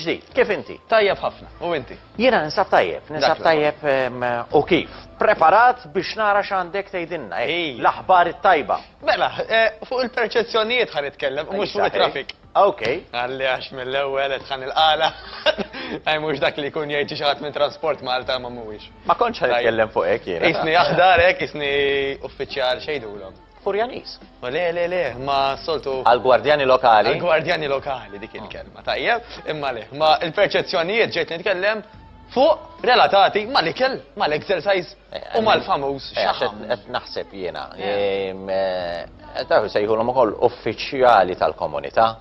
ġdid. Kif inti? Tajjeb ħafna. U inti? Jiena ninsab tajjeb, ninsab tajjeb u kif. Preparat biex nara x'għandek tgħidilna, l-aħbar it-tajba. Mela, fuq il-perċezzjonijiet ħa nitkellem, mhux fuq it-traffic. Ok. Qalli għax mill-ewwel qed ħa nilqagħla. Hi mhux dak li jkun jgħid xi xi ħadd minn Transport Malta imma mhuwiex. Ma kontx ħa nitkellem fuq hekk jiena. Qisni aħdar hekk, qisni uffiċjal x'għidulhom? Furjaniż. O le le le, imma s-soltu. Għall-gwardjani lokali. Għall-gwardjani lokali dik il-kelma, tajjeb. Imma le, ma l-perċezzjonijiet ġejt nitkellem fuq relatati mal-ikel, mal-exercise U mal-famuż eh, xaħam. Qed naħseb jiena. Eh. Tafu sejħulhom ukoll uffiċjali tal-komunità.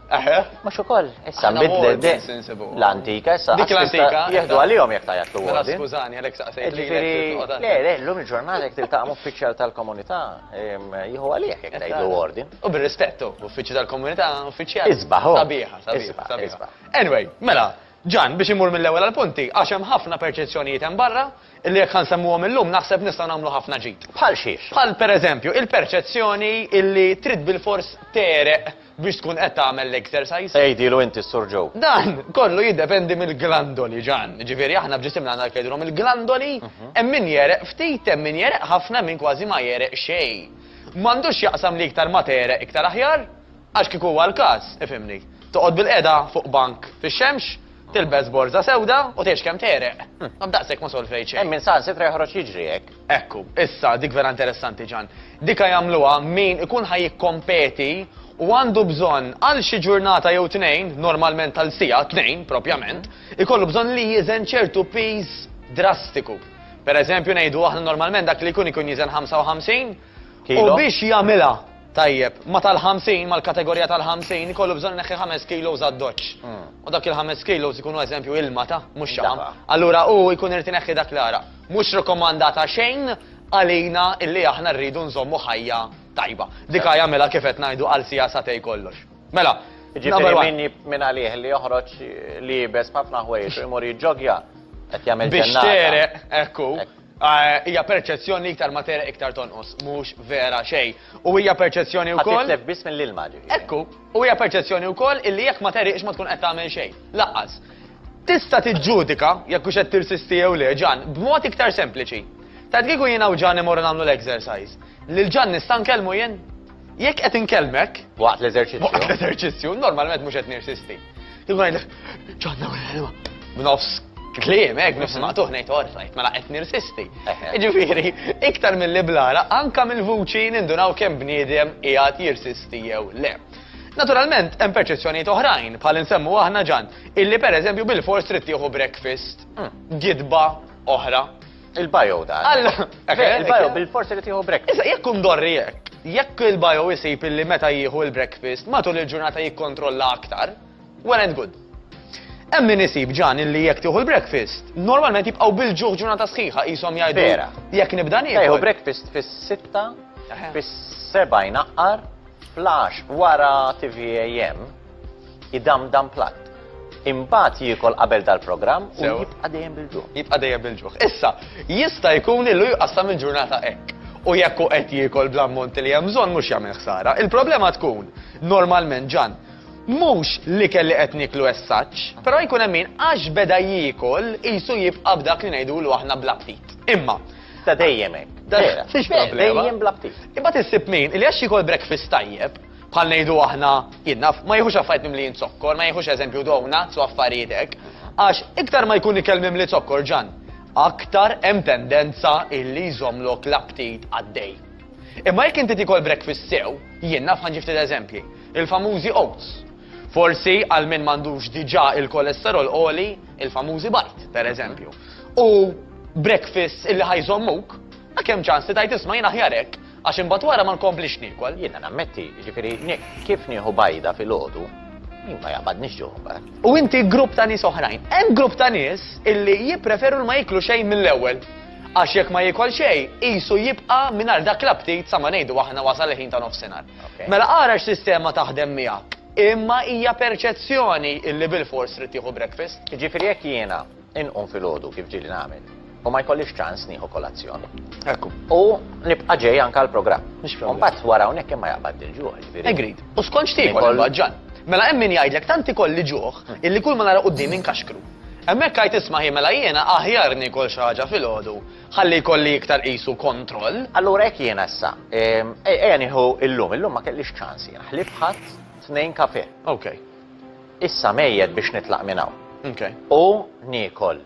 Eħe. Mux ukoll, issa bidlet l-antika, issa. Dik l-antika. Jihdu għalihom jek tajat l Mela skużani, għalek saqsejt li. Le, le, l-lum il-ġurnata jek tiltaqam uffiċjal tal-komunità, jieħu għalih jek tajt l ordin. U bil-rispettu, uffiċjal tal-komunità, uffiċjal. Isbaħ. Sabiħa, sabiħa. Anyway, mela, Ġan, biex immur mill-ewwel għall-punti, għax hemm ħafna perċezzjonijiet hemm barra, illi jekk ħa nsemmuhom illum naħseb nistgħu nagħmlu ħafna ġid. Bħal xiex? Bħal, per eżempju, il-perċezzjoni illi trid bilfors tegħreq biex tkun qed tagħmel l-exercise. Għidilu inti s-Sur Joe. Dan kollu jiddependi mill-glandoli, Ġan. Jiġifieri aħna f'ġisimna għandna dak li jgħidulhom il-glandoli, hemm min jegħreq ftit, hemm min jegħreq ħafna, hemm min kważi ma jegħreq xejn. M'għandux x'jaqsam li iktar ma tegħreq iktar aħjar, Għax kieku huwa l-każ, ifhimni, toqgħod bilqiegħda fuq bank fix-xemx, tilbes borża sewda u tgħix kemm tegħreq. Ma b'daqshekk ma solvejt xejn. Hemm min saħansitra joħroġ jiġri hekk. Ekku, issa, dik vera interessanti, Ġann. Dika jagħmluha min ikun ħa jikkompeti u għandu bżonn għal xi ġurnata jew tnejn, normalment għal siegħa, tnejn propjament, ikollu bżonn li jiżen ċertu piż drastiku. Per eżempju, ngħidu aħna normalment dak li jkun ikun jiżen 55, U biex jagħmilha tajjeb ma' tal-50, mal-kategorija tal-50, ikollu bżonn ineħħi ħames kilos għad-doċċ. U dak il-ħames kilos ikunu eżempju ilma ta', mhux xaħam. Allura hu jkun irid ineħħi dak l-għaraq. Mhux rikkomandata xejn għalina illi aħna rridu nżommu ħajja tajba. Dik hi jagħmilha kif qed ngħidu għal siegħa sagħtejn kollox. Mela, number one. Jiġifieri min minn għalih li joħroġ li jibes b'ħafna ħwejjeġ u jmur jiġġoggja qed jagħmel ġennata. Biex tereq, hekk hu. Hija perċezzjoni li iktar ma tegħreq iktar tonqos, mhux vera xejn. U hija perċezzjoni wkoll. Ħa titlef biss mill-ilma, ġifieri. Ekku. U hija perċezzjoni wkoll illi jekk ma tegħriqx ma tkun qed tagħmel xejn. Lanqas. Tista' tiġġudika jekk hux qed tirsisti jew le, Ġann, b'mod iktar sempliċi. Tgħid kieku jiena u Ġann immorru nagħmlu l-exercise, lil Ġann nista' nkellmu jien? Jekk qed inkellmek. Waqt l-eżerċizzju. Waqt l-eżerċizzju, normalment mhux qed nirsisti. Kieku ngħidlek, ġonna wara l-ilma. B'nofs kliem, hekk b'nofs mhm. maqtuħ ngħid orrajt, mela qed nirsisti. Jiġifieri, iktar mill-li blara, anka mill-vuċi nindunaw kemm bniedem qiegħed jirsisti jew le. Naturalment, hemm perċezzjonijiet oħrajn, bħal insemmu aħna ġan, illi pereżempju bil-fors trid tieħu breakfast, mm. gidba oħra, Il-bio da. Alla! Il-bio bil-forsi li tieħu breakfast. Issa jekk kun dorri jekk, jekk il-bio isib illi meta jieħu il-breakfast matul il-ġurnata jikkontrolla aktar, well and good. Hemm min isib ġan illi jekk tieħu l-breakfast, normalment jibqgħu bil-ġuħ ġurnata sħiħa qishom jgħidu. Vera. Jekk nibda nieħu. Jieħu breakfast fis-sitta, fis-seba' jnaqqar, flash wara TVAM. Idamdam platt. Imbagħad jiekol qabel dal-programm u jibqa' dejjem bil-ġuħ. Jibqa' dejjem bil-ġuħ. Issa, jista' jkun illu jqassam il-ġurnata hekk. U jekk hu qed jiekol bl-ammont li hemm bżonn mhux jagħmel ħsara. Il-problema tkun, normalment Ġan, mhux l-ikel li qed nieklu essaċ, però jkun hemm min għax beda jiekol qisu jibqa' b'dak li ngħidulu aħna bl-aptit. Imma. Ta' dejjem hekk. Dejjem bl-aptit. Imbagħad issib min li għax jiekol breakfast tajjeb, Bħal ngħidu aħna, jien naf, ma jiħux affarijiet mimlijin zokkor, ma jiħux eżempju donuts u affarijiet hekk, għax iktar ma jkun ikel mimli zokkor ġann, aktar hemm tendenza illi jżommlok l-aptit għaddej. Imma jekk inti tiekol breakfast sew, jien naf ħa xi ftit eżempji, il-famużi oats, forsi għal min m'għandux diġà il-kolesterol għoli, il-famużi bajd, per eżempju, u breakfasts illi ħa jżommuk, ma kemm ċans li tgħid isma' jien aħjar hekk, Għax imbagħad wara ma nkomplix niekol. Jiena nammetti, jiġifieri kif nieħu bajda filgħodu, jien ma jaqbadnix ġuħ imbagħad. U inti grupp ta' nies oħrajn. Hemm grupp ta' nies illi jippreferu li ma jieklu xejn mill-ewwel. Għax jekk ma jiekol xejn, qisu jibqa' mingħajr dak l-aptit sa ma ngħidu aħna wasal il-ħin ta' nofsinhar. Mela ara x'sistema taħdem miegħek. Imma hija perċezzjoni illi bilfors trid tieħu breakfast. Jiġifieri jekk jiena Inqum filgħodu kif ġieli nagħmel u ma jkollix ċans nieħu kolazzjon. Ekku. U nibqa' ġej anke għall-programm. Mhux problem. U mbagħad wara hawnhekk imma jaqbad il-ġuħ, jiġifieri. Agreed. U skont x'tiekol Ikoll- imbagħad, Ġan? Mela hemm min jgħidlek tant ikolli ġuħ illi kull ma nara quddiemi nkaxkru. Hemmhekk għidt isma' hi mela jiena aħjar niekol xi ħaġa filgħodu ħalli jkolli iktar qisu kontroll. Allura hekk jiena issa. Ehm, ej- Ejja nieħu illum, illum ma kellix ċans jiena. Ħlief ħadd tnejn kafè. Okay. Issa mejjet biex nitlaq minn hawn. Okay. U niekol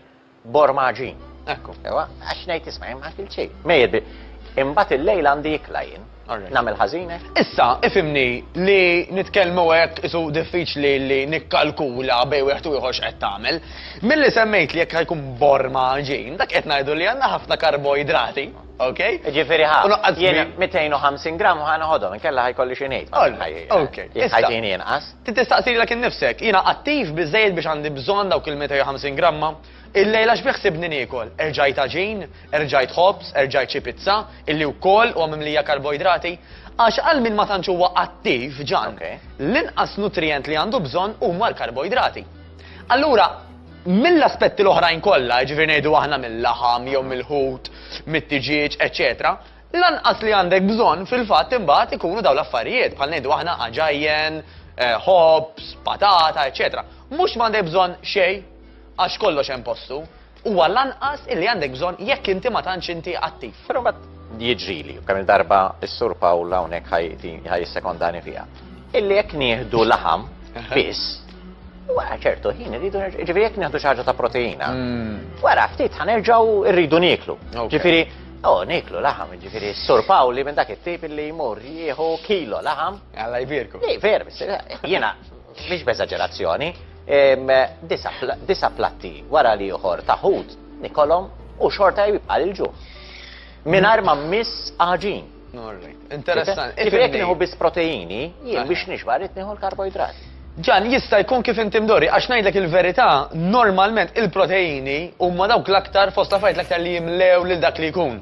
borma għaġin. Ekku. Ewa, għax ngħid isma' ma kil xejn. Mejjet bi. Imbagħad il-lejl għandi jikla jien. Nagħmel ħażine. Issa, ifimni li nitkellmu hekk isu diffiċli li nikkalkula bej wieħed u ieħor x'qed tagħmel. Milli semmejt li jekk ħajkun borma ġin, dak qed ngħidu li għandna ħafna karboidrati. Ok? Jiġifieri ħa. U noqqas jiena 250 gramm u ħa noħodhom, inkella ħa jkolli xi ngħid. Ok. Jekk ħajti jieni inqas. Trid tistaqsi lilek innifsek, jiena attiv biżżejjed biex għandi bżonn dawk il-250 gramma? Illejla x'bi ħsibni niekol? Erġajt għaġin? Erġajt ħobż? Erġajt xi pizza? Illi wkoll huwa mimlija karboidrati? Għax għal min ma tantx huwa attiv, Ġan, l-inqas nutrijent li għandu bżonn huma l-karboidrati. Allura, mill-aspetti l-oħrajn kollha, jiġifieri ngħidu aħna mil-laħam jew mill-ħut, mit-tiġieġ, eċċetera, l-anqas li għandek bżonn fil-fatt imbagħad ikunu dawn l-affarijiet bħal ngħidu aħna għaġajjen, eh, ħobż, patata, eċċetera. Mhux m'għandek bżonn xejn għax kollox hemm postu. Huwa l-anqas illi għandek bżonn jekk inti ma tantx inti attiv. Però mbagħad jiġrili, kemm il-darba s-Sur Pawl hawnhekk ħaj jissekondani fiha. Illi jekk nieħdu laħam biss, Wara ċertu ħin irridu ġifieri jekk nieħdu xi ħaġa ta' proteina. Mm. Wara ftit ħanerġgħu rridu nieklu. Ġifieri Oh, niklu laħam, ġifiri, sur Pawli minn dak it-tip li jmur jieħu kilo laħam. Għalla jbirku. Iver, jena, Mhix b'eżaġerazzjoni, disa' platti wara l-ieħor ta' ħut nikolhom u xorta jibqa' l-ġuħ. Mingħajr ma mmiss għaġin. Interessanti. Ġifieri jekk nieħu biss proteini, jien biex nixba' rrid nieħu l-karboidrati. Ġan, jista' jkun kif inti mdorri, għax ngħidlek il-verità, normalment il-proteini huma dawk l-aktar fost l-affarijiet l-aktar li jimlew lil dak li jkun.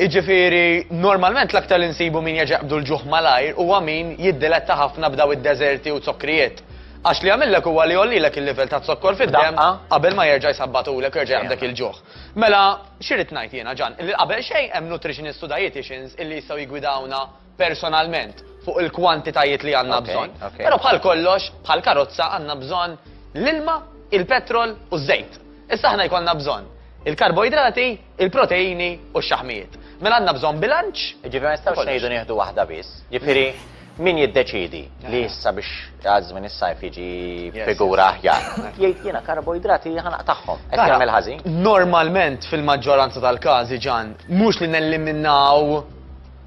Iġifiri, normalment l-aktar li nsibu min jaġaqbdu l-ġuħ malajr u għamin jiddiletta ħafna b'daw id-deserti u zokkrijiet. Għax li għamillek u għalli għollilek il-level ta' zokkor fid-dem, qabel ma jerġa' jisabbatulek jerġa' jgħabdek il-ġuħ. Mela, xirrit najt jena ġan, li qabel xejn hemm nutritionist u dietitians illi jistaw jgwidawna personalment fuq il-kwantitajiet li għanna bżon. Pero bħal kollox, bħal karozza għanna bżon l-ilma, il-petrol u z-zejt. Issa ħna jkollna bżon il-karboidrati, il-proteini u x-xaħmijiet. Mela għandna bżonn bilanċ. Jiġifieri ma nistgħux ngħidu nieħdu waħda biss. Jiġifieri min jiddeċiedi li issa biex għal żmien is-sajf jiġi figura aħjar. Jgħid jiena karboidrati ħa naqtagħhom. Qed jagħmel ħażin? Normalment fil-maġġoranza tal-każi ġan, mhux li nelliminaw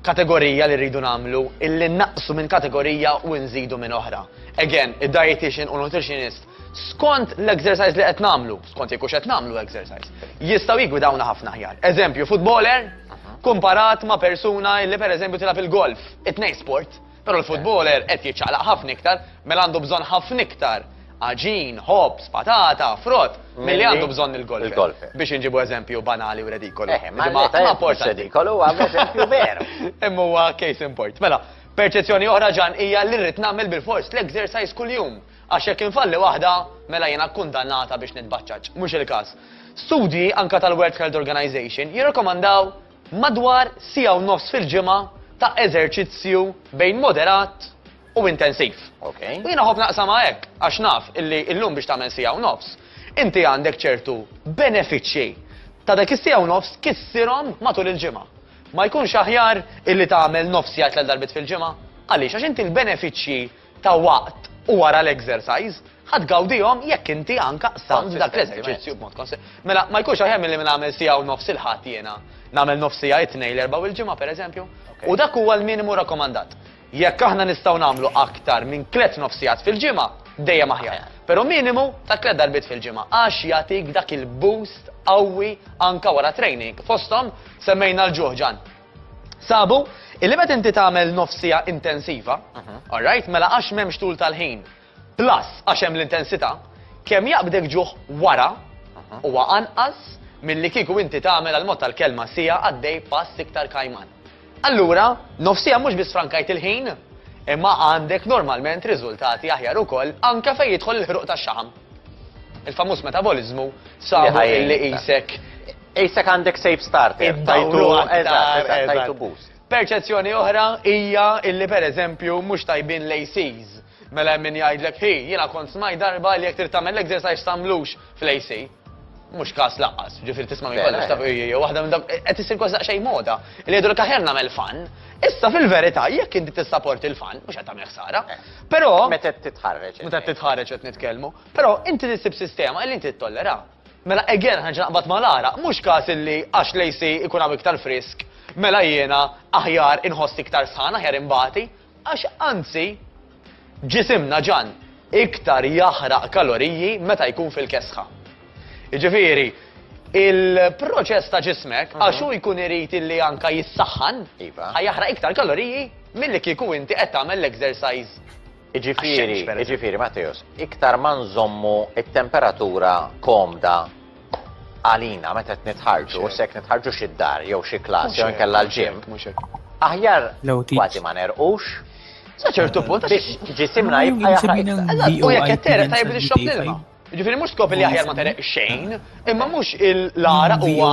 kategorija li rridu nagħmlu, illi naqsu minn kategorija u nżidu minn oħra. Again, id-dietitian u nutritionist skont l-exercise li qed nagħmlu, skont jekk qed nagħmlu exercise, jistgħu jigwidawna ħafna ħjar. Eżempju, futboler kumparat ma' persuna li pereżempju tilab il-golf, it-tnejn sport, però l-futboler qed jiċċaqlaq ħafna iktar, mela għandu bżonn ħafna iktar aġin, ħobs, patata, frott, milli għandu bżonn il-golf. Biex inġibu eżempju banali u redikolu. Eh, ma porta redikolu għam eżempju veru. Imma huwa case import. Mela, perċezzjoni oħra ġan hija li rrid nagħmel bil-fors l-exercise kuljum. Għax jekk infalli waħda, mela jiena kkundannata biex nitbaċċaġġ. Mhux il-każ. Studji, anke tal-World Health Organization, jirrakkomandaw madwar siegħa u nofs fil-ġimgħa ta' eżerċizzju bejn moderat u intensiv. Okay. U jiena ħobb naqsam hekk, għax naf illi illum biex tagħmel siegħa u nofs, inti għandek ċertu benefiċċji ta' dak is-siegħa u nofs kissirhom matul il-ġimgħa. Ma jkunx aħjar illi tagħmel nofs jgħid l darbit fil-ġimgħa? Għaliex għax inti l-benefiċċji ta' waqt u wara l-exercise, ħa tgawdihom jekk inti anka qsamt dak l-eżerċizzju b'mod konse. Mela ma jkunx aħjar milli nagħmel siegħa u nofs il-Ħadd jiena nagħmel nofs siegħa it-Tnejn, l-Erbgħa u l-Ġimgħa pereżempju? U dak huwa l-minimu rakkomandat. Jekk aħna nistgħu nagħmlu aktar minn tliet nofsigħat fil-ġimgħa, dejjem aħjar. Però minimu ta' tliet darbiet fil-ġimgħa għax jagħtik dak il-boost qawwi anka wara training. Fosthom semmejna l-ġuħ, Ġann. Sabu, illi meta inti tagħmel nofsija intensiva, mhm. alright, mela għax m'hemmx tul tal-ħin, plus għax hemm l-intensità, kemm jaqbdek ġuħ wara mhm. huwa anqas milli kieku inti tagħmel għal mod tal-kelma sija għaddej pass iktar kajman. Allura, nofsija mhux biss frankajt il-ħin, imma għandek normalment riżultati aħjar ukoll anke fejn jidħol il-ħruq tax-xaħam. Il-famuż metabolizmu sabu li qisek Qisek għandek safe starter. Iddawru aktar. Eżatt, eżatt, tajtu boost. Perċezzjoni oħra hija illi pereżempju mhux tajbin l-ACs. Mela hemm min jgħidlek, hi, jiena kont smajt darba li jekk trid tagħmel l-exercise tagħmlux fl-AC. Mhux każ lanqas, ġifieri tisma' minn kollox taf hija waħda minn dawk qed issir kważi daqsxejn moda. Li jgħidulek aħjar nagħmel fan. Issa fil-verità jekk inti tissaporti l-fan mhux qed tagħmel ħsara. Però Meta titħarreġ. Meta titħarreġ qed nitkellmu. Però inti tissib sistema li inti ttollera. Mela again ħa nerġa' naqbad ma' l-għaraq, mhux każ illi għax l-AC ikun hawn iktar frisk, mela jiena aħjar inħoss iktar sħan, aħjar inbati, għax anzi ġisimna ġan iktar jaħraq kaloriji meta jkun fil-kesħa. Jiġifieri il-proċess ta' ġismek mhm. għax hu jkun irid illi anka jissaħħan, iva. ħa jaħraq iktar kaloriji milli kieku inti qed tagħmel l-exercise Iġifieri, iġifieri Matteos, iktar ma nżommu t-temperatura komda għalina meta qed nitħarġu, se jekk nitħarġu xi dar jew xi klass jew inkella l-ġim. Aħjar kważi ma nerqux. Sa ċertu punt għax ġisimna jibqa' jaħraq. U jekk qed tereq tajjeb li xrob l-ilma. Ġifieri mhux skop li aħjar ma tereq xejn, imma mhux il-lara huwa.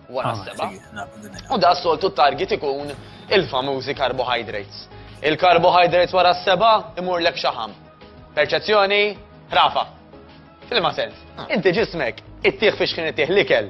wara s-seba. U da soltu target ikun il-famużi carbohydrates. Il-carbohydrates wara s-seba imur lek xaħam. Perċezzjoni, rafa. Fil-ma sens, ah. inti ġismek, it-tieħ fiex kien it-tieħ l-ikel.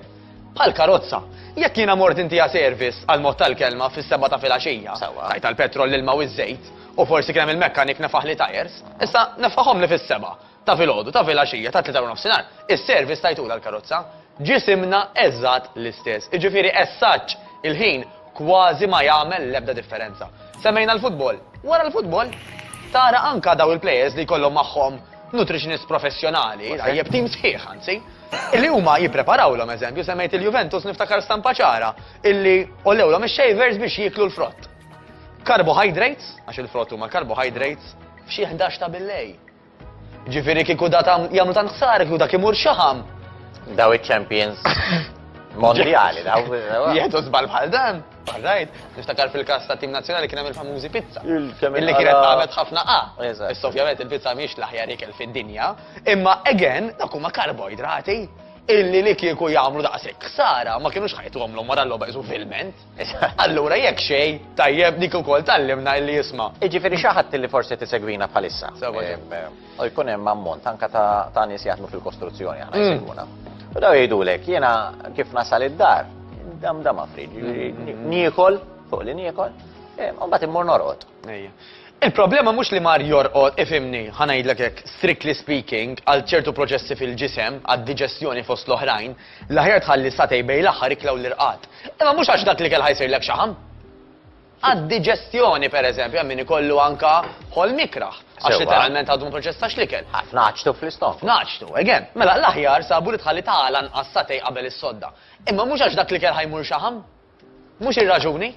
Bħal karozza, jekk jiena mort inti service għal mod tal-kelma fis-seba ta' filgħaxija, tajt tal-petrol l-ilma u ż-żejt, u forsi kien il-mekkanik nefaħ li tajers, issa nefaħhom li fis-seba. Ta' filgħodu, ta' filgħaxija, ta' tlieta warnofsinhar, is-service tajtulha l-karozza. Ġisimna eżatt l-istess, jiġifieri as-such il-ħin kważi ma jagħmel l-ebda differenza. Semmejna l-futbol, wara l-futbol tara anka dawn il-plejers li jkollhom magħhom nutritionist professjonali, tajjeb, tim sħiħ anzi, li huma jippreparawlhom, eżempju semmejt il-Juventus niftakar stampa ċara illi għollewlhom ix-shavers biex jieklu l-frott. Carbohydrates, għax il-frott huma carbohydrates, f'xi ħdax ta' billejl. Ġifieri kieku da tam jagħmlu tant ħsara kieku dak imur xaħam. Daw iċ-champions mondjali, daw. Jieħdu żball bħal dan. Rajt, niftakar fil-kas ta' tim nazzjonali kien hemm il-famużi pizza. Illi kienet tagħmel ħafna A. Issa ovvjament il-pizza mhix l-aħjar ikel fid-dinja, imma again dak huma karboidrati illi li kieku jagħmlu daqshekk ħsara ma kienux ħajtu għamlu mara l-logħba filment. Allura jekk xejn, tajjeb dik ukoll tgħallimna illi jisma'. Jiġifieri xi ħadd illi forsi tisegwina bħalissa. Sewa ġej. Ehm, u jkun hemm ammont anke ta' nies jaħdmu fil-kostruzzjoni aħna mm. jsegwuna. U daw jgħidulek jiena kif nasal id-dar, dam dam afrid, mm-hmm. niekol, fuq li niekol, ehm, u mbagħad immur norqod. Il-problema mhux li mar jorqod ifimni, ħanajdlek hekk, strictly speaking, għal ċertu proċessi fil-ġisem, għad-diġestjoni fost l-oħrajn, L-aħjar tħalli satay bejn l-aħħar ikla u l-irqad. Imma mhux għax dak l-ikel ħa jsirlek xaħam. Għad-diġestjoni, per eżempju, hemm min ikollu anka ħolm ikrah. Għax literalment għadu ma proċessax l-ikel. Fnaċtu fl-istomku. Fnaċtu, again. Mela l-aħjar sabu li tħalli ta' għala nqas satay qabel is-sodda. Imma mhux għax dak l-ikel ħa jmur xaħam. Mhux ir-raġuni.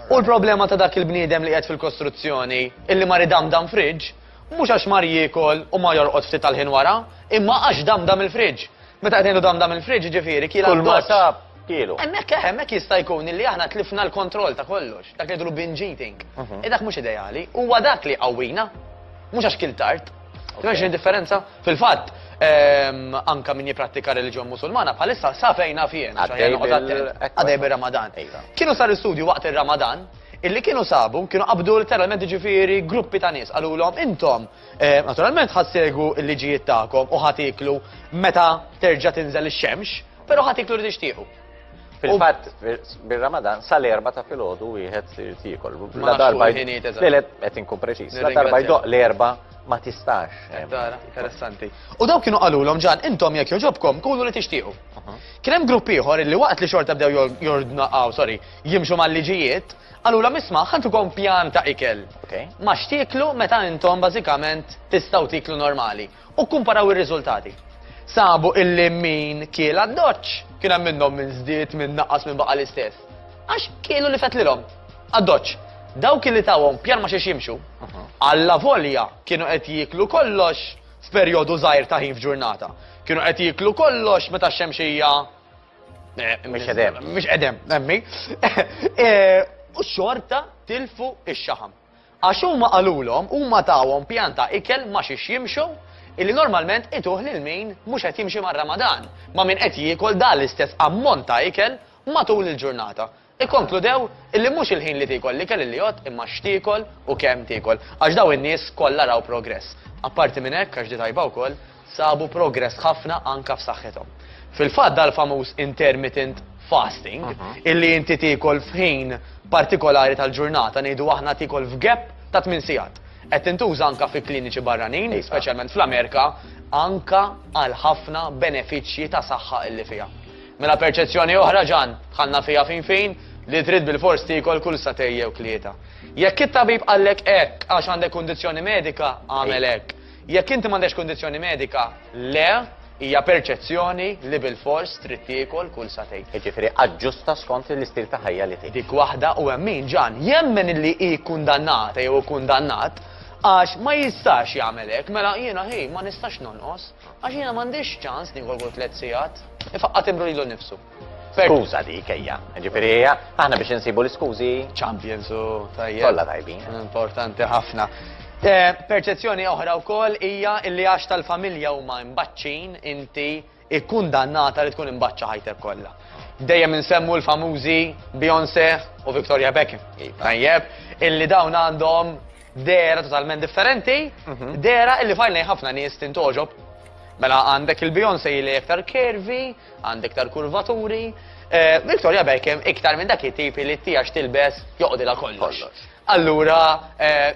U l-problema ta' dak il-bniedem li qed fil-kostruzzjoni illi mar idamdam fridge, mhux għax mar jiekol u ma jorqod ftit tal-ħin wara, imma għax damdam il-fridge. Meta qed ngħidu damdam il-fridge jiġifieri kiel għal doċċ. Kulma sab, kielu. Hemmhekk eh, hemmhekk jista' jkun illi aħna tlifna l-kontroll ta' kollox, dak li jgħidulu binge eating. Mhm. E dak mhux ideali, huwa dak li jqawwina, mhux għax kiel tard. Tmexx indifferenza? Fil-fatt, ehm, anka min jiprattika reliġjon musulmana bħalissa sa fejna fien. Għadej bir-Ramadan. Iva. Kienu sar istudju waqt ir-Ramadan illi kienu sabu, kienu qabdu literalment ġifiri gruppi ta' nies, għallu l-om intom, eh, naturalment ħassegu il-liġijiet ta'kom u ħatiklu meta terġa tinżel ix-xemx, pero ħatiklu li tixtiequ. Fil-fatt, bil-Ramadan, sal-erba ta' filgħodu wieħed irid jiekol. La darba Lelet qed inkun preċiż. La darba jdoq l-erba ma tistax. Eh, Tara, interessanti. U daw kienu qalulhom ġan intom jekk joġobkom kunu li tixtiequ. Kien hemm grupp ieħor li waqt li xorta bdew jordnaqgħu, sorry, jimxu mal-liġijiet, qalulhom isma' ħantukom pjan ta' ikel. Ma xtieklu meta intom bażikament tistgħu tiklu normali. u kkumparaw ir-riżultati. Sabu illi min kiel għad-doċċ kien hemm minnhom min żdied, min naqqas, min baqa' l-istess. Għax kielu li fetlilhom għad-doċċ. Dawk illi tawhom pjan ma' xiex jimxu, allavolja kienu qed jieklu kollox f'perjodu żgħir ta' ħin f'ġurnata, kienu qed jieklu kollox meta x-xemxija Mhix qegħdem. Mhix qegħdem, emmi. U xorta tilfu x-xaħam. Għax huma qalulhom, huma tawhom pjan ta' ikel ma' xiex jimxu, illi normalment ituh lil min mhux qed jimxi mar-Ramadan, ma' min qed jiekol dan l-istess ammont ta' ikel matul il-ġurnata. Ikkonkludew illi mhux il-ħin li tiekol l-ikel illi jgħodd imma x'tiekol u kemm tiekol. Għax dawn in-nies kollha raw progress. Apparti minn hekk, għax di tajba wkoll, sabu progress ħafna anke f'saħħithom. Fil-fatt dal-famuż intermittent fasting, illi inti tiekol f'ħin partikolari tal-ġurnata, ngħidu aħna tiekol f'gap ta' tmien sigħat, qed tintuża anke fi kliniċi barranin, speċjalment fl-Amerika, anke għal ħafna benefiċċji ta' saħħa illi fiha. Mela perċezzjoni oħra, Ġann, dħalna fiha fin fin, li trid bilfors tiekol kull sagħtejn jew tlieta. Jekk it-tabib qallek hekk għax għandek kundizzjoni medika, agħmel hekk. Jekk inti m'għandekx kundizzjoni medika, le, hija perċezzjoni li bilfors trid tiekol kull sagħtejn. Jiġifieri aġġusta skont l-istil ta' ħajja li tgħix. Dik waħda u hemm min, Ġan, jemmen illi hi kkundannata jew ikkundannat għax ma jistax jagħmel hekk, mela jiena hi ma nistax nonqos għax jiena m'għandix ċans niekol kull tliet sigħat. Ifaqqa' timbru lilu nnifsu. Skuża dik ejja. Ġifieri hija aħna biex insibu l-iskużi. Champions u tajjeb. Kollha tajbin. Importanti ħafna. Eh, perċezzjoni oħra wkoll hija li għax tal-familja huma mbaċċin inti ikkundannata li tkun imbaċċa ħajtek kollha. Dejjem insemmu l-famużi Beyoncé u Victoria Beckham. Iva. Tajjeb, illi dawn għandhom dera totalment differenti, mhm. dera illi fajlnej ħafna nies tintoġob. Mela għandek il-Beyoncé li aktar kervi, Għand iktar kurvaturi. Victoria Beckham iktar minn dak it-tipi li t-tijax tilbes joqdilha kollox. Allura,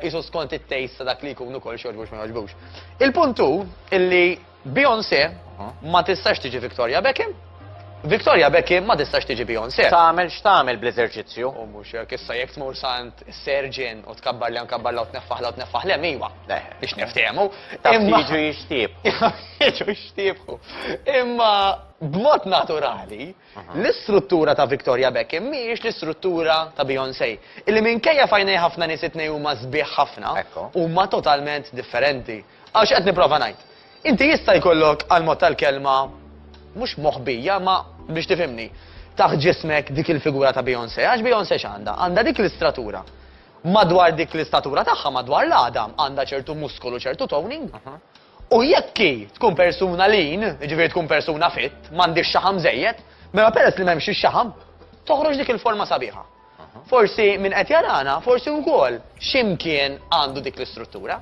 jisu skont it-taste ta' dak li jkunu kol xorbux ma joġbux. Il-puntu illi Beyoncé ma tistax tiġi Victoria Beckham, Victoria Beckham ma tistax tiġi Beyoncé. Tagħmel x'tagħmel bl-eżerċizzju? U mhux hekk issa jekk tmur sant Serġin u tkabbar li nkabbar law tneffaħ law tneffaħ lem iva. Biex niftehmu. Imma jiġu jixtiebħu. Jiġu jixtiebħu. Imma b'mod naturali, l-istruttura ta' Victoria Beckham mhijiex l-istruttura ta' Beyoncé. Illi minkejja fajnej ħafna nies it-tnejn huma sbieħ ħafna, huma totalment differenti. Għaw x'qed nipprova ngħid. Inti jista' jkollok għal mod tal-kelma mhux moħbija ma biex tifhimni, taħt ġismek dik il-figura ta' Beyoncé. Għax Beyoncé x'għandha? Għandha dik l-istratura. Madwar dik l-istatura tagħha, madwar l-għadam, għandha ċertu muskolu, ċertu toning. U jekk hi tkun persuna lean, jiġifieri tkun persuna fit, m'għandhiex xaħam żejjed, mela peress li m'hemmx ix-xaħam, toħroġ dik il-forma sabiħa. Forsi min qed jarana, forsi wkoll x'imkien għandu dik l-istruttura.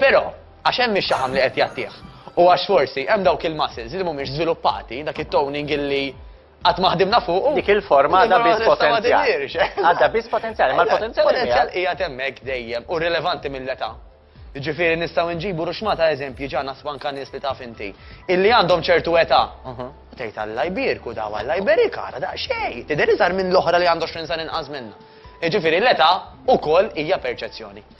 Però, għax hemm ix-xaħam li qed jagħtih, u għax forsi hemm dawk il-muscles li mhumiex żviluppati, dak it-toning illi Qatt ma ħdimna fuqu. Dik il-forma għadha biss potenzjal. Għadha biss potenzjal, imma l-potenzjal. Potenzjal qiegħed hemmhekk dejjem u rilevanti mill-età. Jiġifieri nistgħu nġibu ruxma ta' eżempji ġa nasbu anke nies li taf inti illi għandhom ċertu età. U tgħid Alla jbierku daw, Alla jberik ara daqsxejn, tidher iżgħar minn l-oħra li għandha 20 sena inqas minnha. Jiġifieri l-età wkoll hija perċezzjoni.